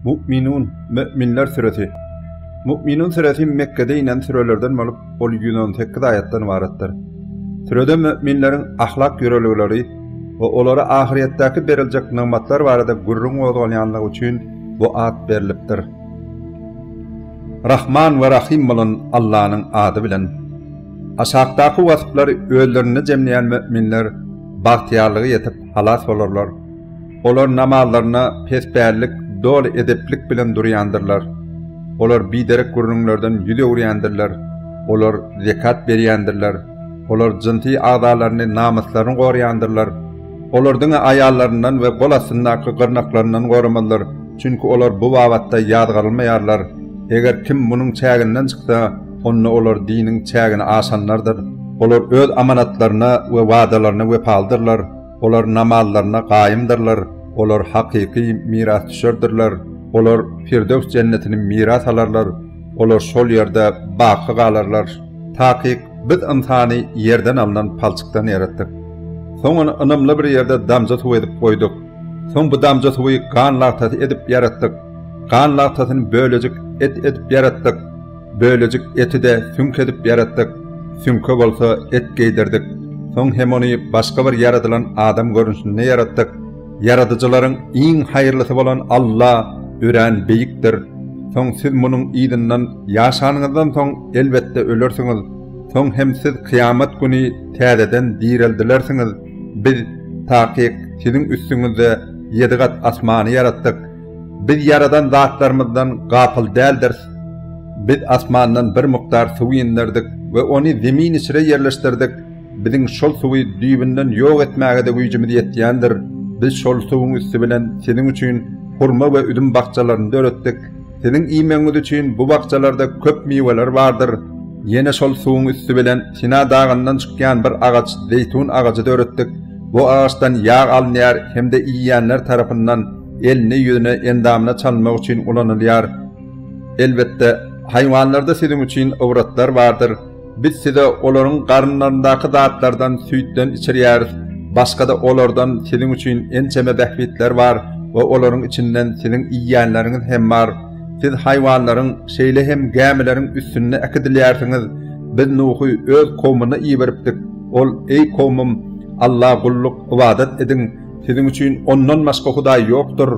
Mu'minun, Möminler süresi. Mu'minun süresi Mekgede inen sürelerden bolup, ol 118 aýatdan ybaratdyr. Sürede möminleriň ahlak ýörelgeleri we olara ahyretdäki beriljek nygmatlar barada gürrüň gozgalýanlygy üçin bu at berlipdir. Rahman we Rahim bolan Allanyň ady bilen. Aşakdaky wasplary özlerinde jemleýän möminler bagtyýarlygy ýetip, halas bolarlar. Olar namazlarynda pesbällik, doly edeplik bilen durýandyrlar. Olar biderek gürrüňlerden ýüz öwürýändirler. Olar zekat berýändirler. Olar jynsy agzalaryny, namyslaryny goraýandyrlar. Olar diňe aýallaryndan we gol astyndaky gyrnaklaryndan goramazlar, çünki olar bu babatda ýazgarylmaýarlar. Eger kim munuň çäginden çyksa, Onda olar diniň çägini aşanlardyr. Olar öz amanatlaryna we wadalaryna wepalydyrlar. Olar namazlaryna gaýymdyrlar. Olar hakyky mirasdüşerdirler. Olar Pirdews jennetini miras alarlar. Olar şol ýerde baky galarlar. Takyk, Biz ynsany ýerden alnan palçykdan ýaratdyk. Soň ony ynamly bir ýerde damja suw edip goýduk. Soň bu damja suwy gan lagtasy edip ýaratdyk. Gan lagtasyny bölejik et edip ýaratdyk. Bölejik eti-de süňk edip ýaratdyk, süňke bolsa et geýdirdik. Soň hem ony başga bir ýaradylan adam görnüşinde ýaratdyk. Ýaradyjylaryň iň haýyrlysy bolan Alla örän beýikdir. Soň siz munuň yzyndan ýaşanyňyzdan soň, elbetde, ölersiňiz. Soň hem siz kyýamat güni täzeden direldilersiňiz. Biz, takyk, siziň üstüňizde ýedi gat asmany ýaratdyk. Biz ýaradan zatlarymyzdan gapyl däldiris. Biz asmandan bir mukdar suw inderdik we ony zemin içre ýerleşdirdik, biziň şol suwy düýbünden ýok etmäge-de güýjümiz ýetýändir, biz şol suwuň üsti bilen siziň üçin hurma we üzüm bakjalaryny döretdik, siziň iýmegiňiz üçin bu bakjalarda köp miweler bardyr, ýene şol suwuň üsti bilen Sina dagyndan çykýan bir agaç zeýtun agajy döretdik, bu agaçdan ýag alynýar hem-de iýýänler tarapyndan elini, ýüzüne, endamyna çalynmak üçin ulanylýar. Elbetde, haýwanlarda siziň üçin ybratlar bardyr. Biz size olaryň garynlaryndaky zatlardan süýtden içirýäris. Başga-da olardan siziň üçin ençeme bähbitler bar we olaryň içinden siziň iýýänleriňiz hem bar. Siz haýwanlaryň, şeýle hem gämileriň üstünde äkidilýärsiňiz. Biz Nuhy öz kowmuna iberipdik. Ol, Eý, kowmym! Alla gulluk, ybadat ediň. Siziň üçin ondan başga hudaý ýokdur,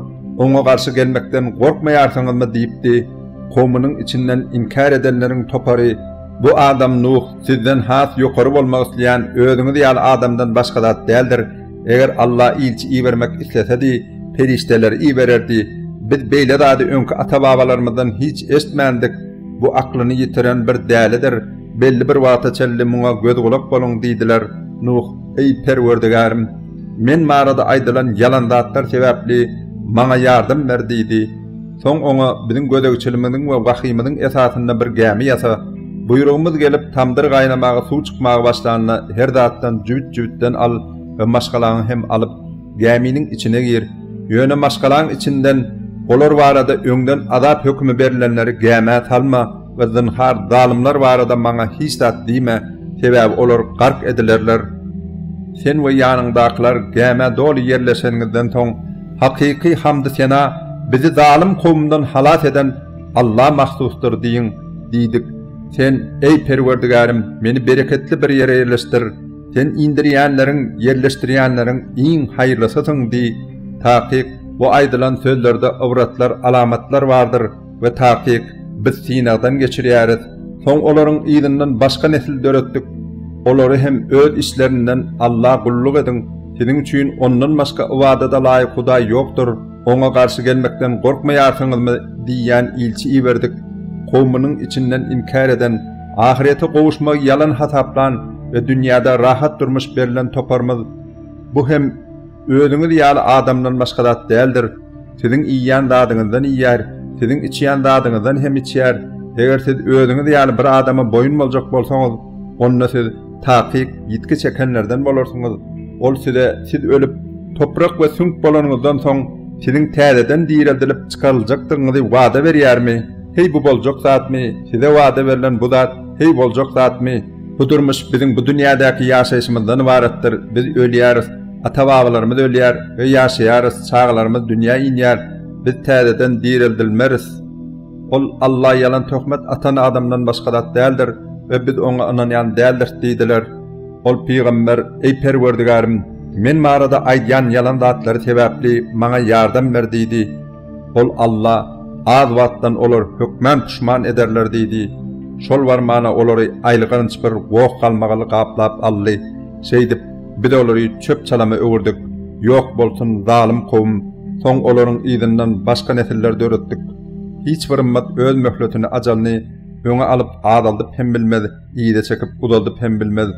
oňa garşy gelmekden gorkmaýarsyňyzmy? diýipdi. Kowumynyň içinden inkär edenleriň topary, Bu adam Nuh, sizden has ýokary bolmak isleýän özüňiz ýaly adamdan başga zat däldir. Eger Alla ilçi ibermek islesedi, perişdeleri ibererdi. Biz beýle zady öňki ata-babalarymyzdan hiç eşitmändik. Bu aklyny ýitiren bir dälidir. Belli bir wagta çenli muňa göz-gulak boluň diýdiler. Nuh, Eý, Perwerdigärim! Men barada aýdylan ýalan zatlar sebäpli maňa ýardam ber diýdi. Soň oňa, Biziň gözegçiligimiziň we wahyýymyzyň esasynda bir gämi ýasa. Buýrugymyz gelip, tamdyr gaýnamaga suw çykmaga başlanda, her zatdan jübüt-jübütden al we maşgalaňy hem alyp, gäminiň içine gir. Ýöne maşgalaň içinden olar barada öňden azap hökümi berlenleri gämä salma. we zynhar zalymlar barada maňa hiç zat diýme, sebäbi olar gark edilerler. Sen we ýanyňdakylar gämä doly ýerleşeniňizden soň, hakyky hamdy-sena bizi zalym kowumdan halas eden Alla mahsusdyr diýiň diýdik. Sen, eý Perwerdigärim, meni bereketli bir ýere ýerleşdir, Sen indirýänleriň, ýerleşdirýänleriň iň haýyrlysysyň diý. Takyk, bu aýdylan sözlerde ybratlar, alamatlar bardyr. we takyk biz synagdan geçirýäris, soň olaryň yzyndan başga nesil döretdik, olary hem öz işlerinden Alla gulluk ediň, siziň üçin Ondan başga ybadada laýyk Hudaý ýokdur, Oňa garşy gelmekden gorkmaýarsyňyzmy? diýýän ilçi iberdik, kowmunyň içinden inkär eden, ahyrete gowuşmagy ýalan hasaplan we dünýäde rahat durmuş berlen toparymyz, bu hem, Özüňiz ýaly adamdan başga zat däldir. Siziň iýýän zadyňyzdan iýýär, siziň içýän zadyňyzdan hem içýär. Eger siz özüňiz ýaly bir adama boýun boljak bolsaňyz, onda siz takyk ýitgi çekenlerden bolarsyňyz. Ol size siz ölüp, toprak we süňk bolanyňyzdan soň, siziň täzeden direldilip çykaryljakdygyňyzy wada berýärmi? Heý, bu boljak zatmy? Size wada berlen bu zat, heý, boljak zatmy? Bu durmuş biziň bu dünýädäki ýaşaýşymyzdan ybaratdyr, biz ölýäris. Ata-babalarymyz ölýär we ýaşaýarys, çagalarymyz dünýä inýär, biz täzeden direldilmeris. Ol, Alla ýalan töhmet atan adamdan başga zat däldir we biz oňa ynanýan däldiris diýdiler. Ol pygamber, Eý Perwerdigärim! Men barada aýdýan ýalan zatlary sebäpli maňa ýardam ber diýdi. Ol, Alla, az wagtdan olar hökman puşman ederler diýdi. Şol barmana olary aýylganç bir goh galmagaly gaplap aldy. Şeýdip, Biz olary çöp-çalama öwürdik. Ýok bolsun, zalym kowum! Soň olaryň yzyndan başga nesiller döretdik. Hiç bir ymmat öz möhletini, ajalyny, öňe alyp, azaldyp hem bilmez, yza çekip, uzaldyp hem bilmez.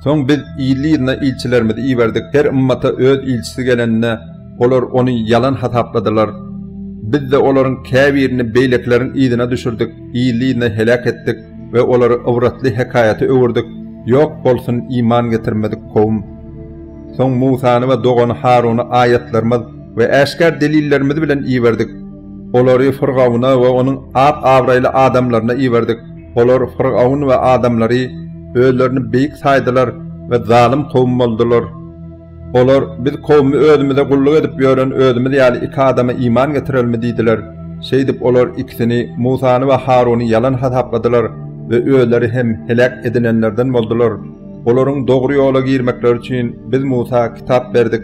Soň biz ýyly-ýylyna ilçilerimizi iberdik. Her ymmata öz ilçisi gelende, olar ony ýalan hasapladylar. Biz-de olaryň käbirini beýlekileriň yzyna düşürdik, ýyly-ýylyna heläk etdik. we olary ybratly hekaýata öwürdik, ýok bolsun iman getirmedik kowum! Soň Musany we dogany Haruny aýatlarymyz we äşgär delillerimiz bilen iberdik. Olary Fyrgawuna we onuň at-abraýly adamlaryna iberdik, olar, Fyrgawun we adamlary, özlerini beýik saýdylar we zalym kowum boldular. Olar, Biz kowumy özümize gulluk edip ýören özümiz ýaly iki adama iman getirelmi? diýdiler. Şeýdip, olar ikisini, Musany we Haruny ýalan hasapladylar we özleri hem heläk edilenlerden boldular. Olaryň dogry ýola girmekleri üçin Biz Musa kitap berdik.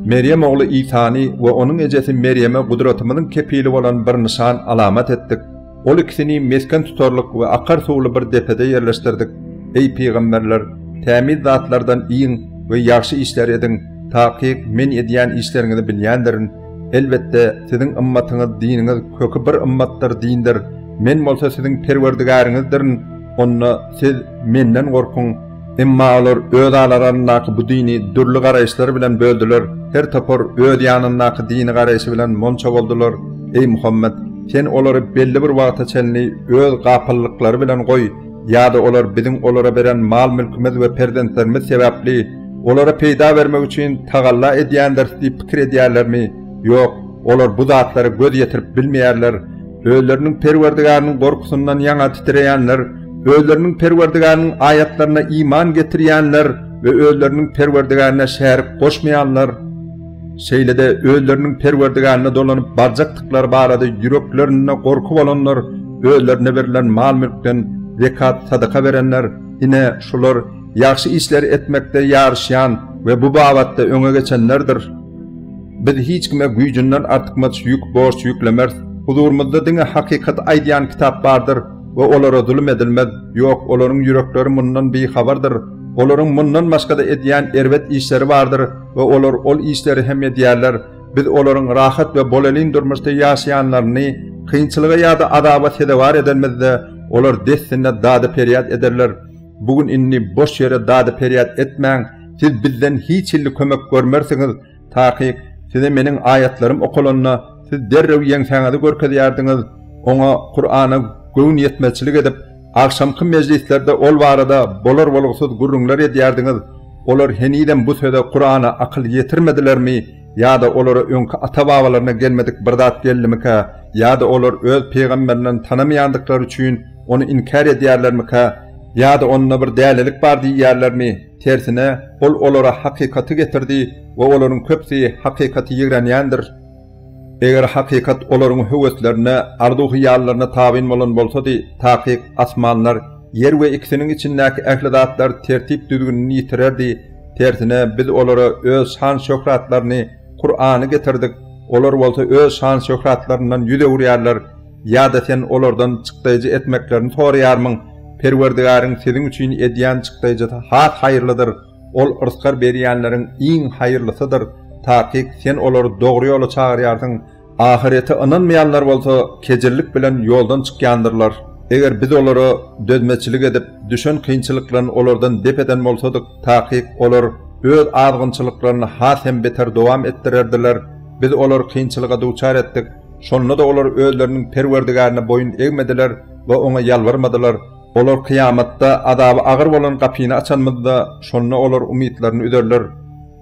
Merýem ogly Isany we onuň ejesi Merýeme gudratymyzyň kepili bolan bir nyşan, alamat etdik. Ol ikisini mesgen tutarlyk we akar suwly bir depede ýerleşdirdik. Eý, pygamberler, tämiz zatlardan iýiň we ýagşy işleri ediň, takyk Men edýän işleriňizi bilýändirin. Elbetde, siziň ymmatyňyz, diniňiz köki bir ymmatdyr, dindir. Men bolsa siziň Perwerdigäriňizdirin. Onda siz Menden gorkuň. Emma olar öz aralaryndaky bu dini dürli garaýyşlar bilen böldüler, her topar öz ýanyndaky dini garaýşy bilen monça boldular. Eý Muhammet! Sen olary belli bir wagta çenli öz gapyllyklary bilen goý, ýa-da olar biziň olara beren mal-mülkümiz we perzentlerimiz sebäpli, olara peýda bermek üçin tagalla edýändiris diýip pikir edýärlermi? Ýok, olar bu zatlara göz ýetirip bilmeýärler. Özleriniň Perwerdigäriniň gorkusyndan ýaňa titreýänler, özleriniň Perwerdigäriniň aýatlaryna iman getirýänler we özleriniň Perwerdigärine şärik goşmaýanlar, şeýle-de özleriniň Perwerdigärine dolanyp barjakdyklary barada ýüreklerinde gorky bolanlar, özlerine berlen mal-mülkden zekat, sadaka berenler, ine, şular ýagşy işleri etmekde ýaryşýan we bu babatda öňe geçenlerdir. Biz hiç kime güýjünden artykmaç ýük, borç ýüklemeris. Huzurymyzda diňe hakykaty aýdýan kitap bardyr we olara zulum edilmez. Ýok, olaryň ýürekleri mundan bihabardyr. Olaryň mundan başga-da edýän erbet işleri bardyr we olar ol işleri hem edýärler. Biz olaryň rahat we bolelin durmuşda ýaşaýanlaryny kynçylyga ýa-da azaba sezewar edenimizde, olar dessine dady-perýat ederler. Bu gün indi boş ýere dady-perýat etmäň, siz bizden hiç hilli kömek görmersiňiz. Takyk, size meniň aýatlarym okalanda, siz derrew ýeňsäňizi görkezýärdiňiz, oňa, Kur'ana, göwnüýetmezçilik edip, agşamky mejlislerde ol barada bolar-bolgusyz gürrüňler edýärdiňiz, olar henizem bu söze, Kur'ana, akyl ýetirmedilermi, ýa-da olara öňki ata-babalaryna gelmedik bir zat geldimikä, ýa-da olar öz pygamberlerini tanamaýandyklary üçin, ony inkär edýärlermikä, ýa-da onda bir dälilik bar diýýärlermi? Tersine, Ol olara hakykaty getirdi we olaryň köpüsi hakykaty ýigrenýändir. Eger hakykat olaryň höweslerine, arzuw-hyýallaryna tabyn bolan bolsady, takyk, asmanlar, ýer we ikisiniň içindäki ähli zatlar tertip-düzgünini ýitirerdi. Tersine, Biz olara Öz şan-şöhratlaryny, Kurany, getirdik. Olar bolsa öz şan-şöhratlaryndan ýüz öwürýärler. Ýa-da sen olardan çykdaýjy etmeklerini soraýarmyň? Perwerdigäriň siziň üçin edýän çykdaýjysy has haýyrlydyr, ol rysgal berýänleriň iň haýyrlysydyr, takyk sen olary dogry ýola çagyrýarsyň. Ahyrete ynanmaýanlar bolsa kejirlik bilen ýoldan çykýandyrlar. Eger Biz olara dözmeçilik edip, düşen kynçylyklaryny olardan dep eden bolsadyk, takyk olar öz azgynçylyklaryny has hem beter dowam etdirerdiler. Biz olary kynçylyga duçar etdik. Şonda-da olar özleriniň Perwerdigärine boýun egmediler we Oňa ýalbarmadylar. Olar kyýamatda azaby agyr bolan gapyny açanymyzda, şonda olar umytlaryny üzerler.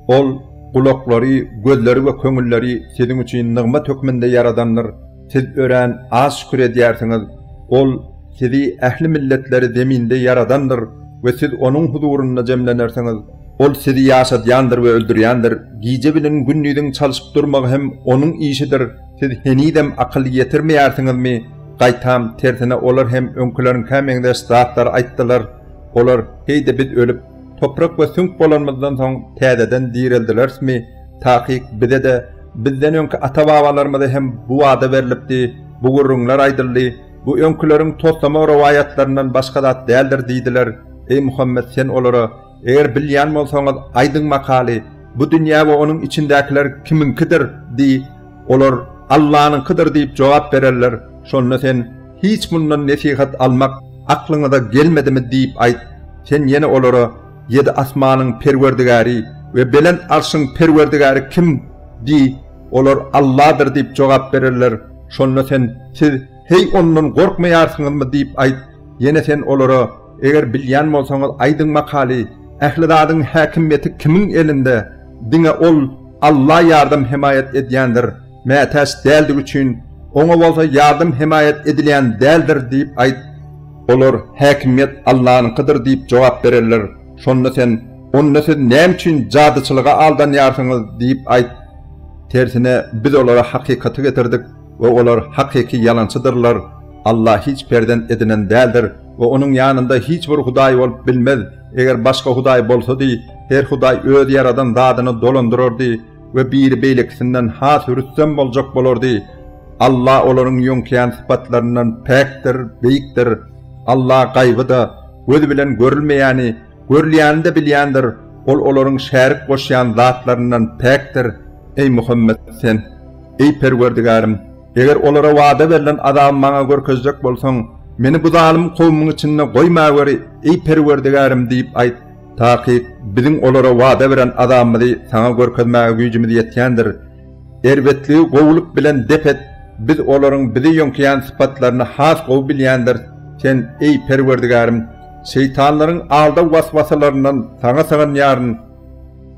Ol, Gulaklary, gözleri we köňülleri siziň üçin nygmat hökmünde ýaradandyr. Siz örän az şükür edýärsiňiz. Ol, Sizi, ähli milletleri, zeminde ýaradandyr we siz Onuň huzurynda jemlenersiňiz. Ol sizi ýaşadýandyr we öldürýändir, gije bilen gündiziň çalyşyp durmagy hem Onuň işidir, siz henizem akyl ýetirmeýärsiňizmi? Gaýtam, tersine, olar hem öňküleriňkä meňzeş zatlary aýtdylar. Olar, Heý-de biz ölüp, toprak we süňk bolanymyzdan soň, täzeden direldilerismi? Takyk, bize-de, bizden öňki ata-babalarymyza hem bu wada berlipdi, bu gürrüňler aýdyldy, bu öňküleriň toslama rowaýatlaryndan başga zat däldir diýdiler. Eý Muhammet, sen olara, Eger bilýän bolsaňyz, aýdyň makaly, bu dünýä we onuň içindäkiler kimiňkidir? diý. Olar, Allanyňkydyr diýip jogap bererler. Şonda sen, Hiç mundan nesihat almak aklyňyza gelmedimi? diýip aýt. Sen ýene olara, Ýedi asmanyň Perwerdigäri we belent Arşyň Perwerdigäri kim? diý. Olar, Alladyr diýip jogap bererler. Şonda sen, Siz, heý, Ondan gorkmaýarsyňyzmy? diýip aýt. Ýene sen olara, Eger bilýän bolsaňyz aýdyň makaly ähli zadyň häkimýeti kimiň elinde diňe ol Alla ýardam hemaýat edýändir mätäç däldigi üçin oňa bolsa ýardam hemaýat edilýän däldir diýip aýt olar häkimýet Allanyňkydyr diýip jogap bererler şonda sen onda siz näme üçin jadyçylyga aldanýarsyňyz diýip aýt tersine biz olara hakykaty getirdik we olar hakyky ýalançydyrlar, Alla hiç perzent edinen däldir we Onuň ýanynda hiç bir hudaý bolup bilmez, eger başga hudaý bolsady, her hudaý öz ýaradan zadyny dolandyrardy we biri beýlekisinden has rüstem boljak bolardy. Alla olaryň ýöňkeýän sypatlaryndan päkdir, beýikdir. Alla gaýby-da, göz bilen görülmeýäni, görülýäni-de bilýändir, Ol olaryň şärik goşýan zatlaryndan päkdir. Eý Muhammet, sen. Eý, Perwerdigärim, eger olara wada berlen azaby maňa görkezjek bolsaň, meni bu zalym kowumyň içinde goýmaweri, eý, Perwerdigärim! diýip aýt. Takyk, biziň olara wada beren azabymyzy saňa görkezmäge güýjümiz ýetýändir. Erbetligi gowulyk bilen dep et, biz olaryň bizi ýöňkeýän sypatlaryny has gowy bilýändiris. Sen, eý, Perwerdigärim, şeýtanlaryň aldaw-waswasalaryndan saňa sygynýaryn.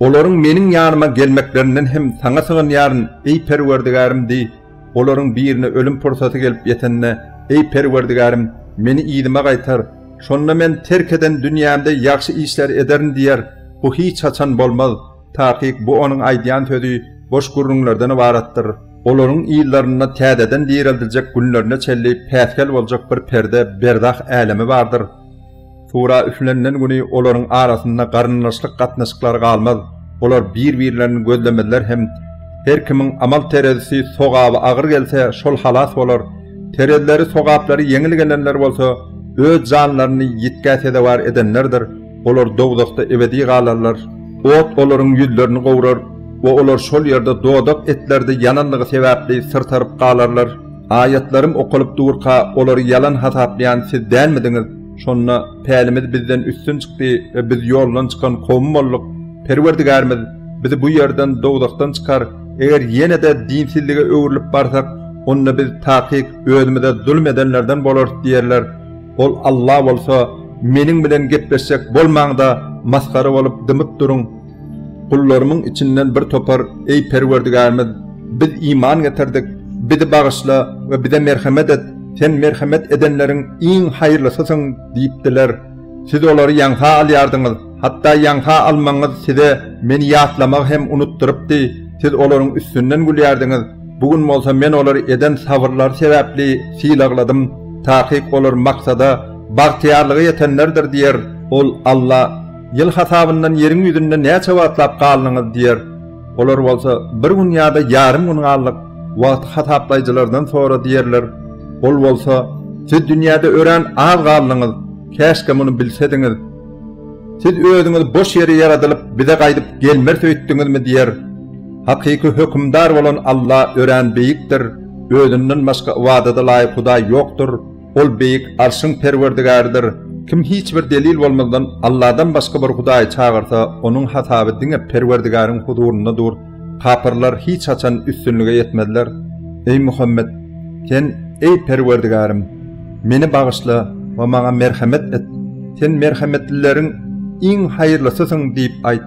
Olaryň meniň ýanyma gelmeklerinden hem Saňa sygynýaryn, eý Perwerdigärim! diý. Olaryň birine ölüm pursaty gelip ýetende, Eý Perwerdigärim, meni yzyma gaýtar. Şonda men terk eden dünýämde ýagşy işleri ederin diýer. Bu hiç haçan bolmaz. Takyk bu onuň aýdýan sözi boş gürrüňlerden ybaratdyr. Olaryň yzlarynda täzeden direldiljek günlerine çenli päsgel boljak bir perde, berzah älemi bardyr. Sura üflenilen güni olaryň arasynda garyndaşlyk gatnaşyklary galmaz, olar bir-birlerini gözlemezler hem her kimiň amal terezisi sogaby agyr gelse, şol halas bolar, terezileri sogaplary ýeňil gelenler bolsa, öz janlaryny ýitgä sezewar edenlerdir, olar dowzahda ebedi galarlar. Ot olaryň ýüzlerini gowrar we olar şol ýerde dodak etleride ýananlygy sebäpli syrtaryp galarlar. Aýatlarym okalyp durka, olary ýalan hasaplaýan siz dälmidiňiz? Şonda pälimiz bizden üstün çykdy we biz ýoldan çykan kowum bolduk. Perwerdigärimiz, Bizi bu ýerden, dowzahdan çykar, eger ýene-de dinsizlige öwrülip barsak, onda biz takyk özümize zulum edenlerden bolarys diýerler. Ol Alla bolsa, Meniň bilen gepleşjek bolmaň-da, masgara bolup dymyp duruň. Gullarymyň içinden bir topar, Eý, Perwerdigärimiz! Biz iman getirdik. Bizi bagyşla we bize merhemet et, Sen merhemet edenleriň iň haýyrlysysyň diýipdiler. Siz olary ýaňsa alýardyňyz, hatda ýaňsa almagyňyz size Meni ýatlamagy hem unutdyrypdy, siz olaryň üstünden gülýärdiňiz. Bu gün bolsa Men olary eden sabyrlary sebäpli sylagladym, takyk olar maksada, bagtyýarlyga ýetenlerdir diýer. Ol Alla. Ýyl hasabyndan ýeriň ýüzünde näçe wagtlap galdyňyz diýer. Olar bolsa, Bir gün ýa-da ýarym gün galdyk, wagty hasaplaýjylardan sora diýerler. Ol bolsa, Siz dünýäde örän az galdyňyz, käşgä muny bilsediňiz. Siz özüňiz boş ýere ýaradylyp, bize gaýdyp gelmeris öýtdüňizmi diýer. Hakyky Hökümdar bolan Alla örän beýikdir, Özünden başga ybadada laýyk hudaý ýokdur. Ol beýik Arşyň Perwerdigäridir. Kim hiç bir delil bolmazdan Allahdan başga bir hudaýy çagyrsa, onuň hasaby diňe Perwerdigäriň huzurynda dur. Kapyrlar hiç haçan üstünlige ýetmezler. Eý Muhammet! Sen, Eý Perwerdigärim! Meni bagyşla we maňa merhemet et. Sen merhemetlileriň iň haýyrlysysyň diýip aýt.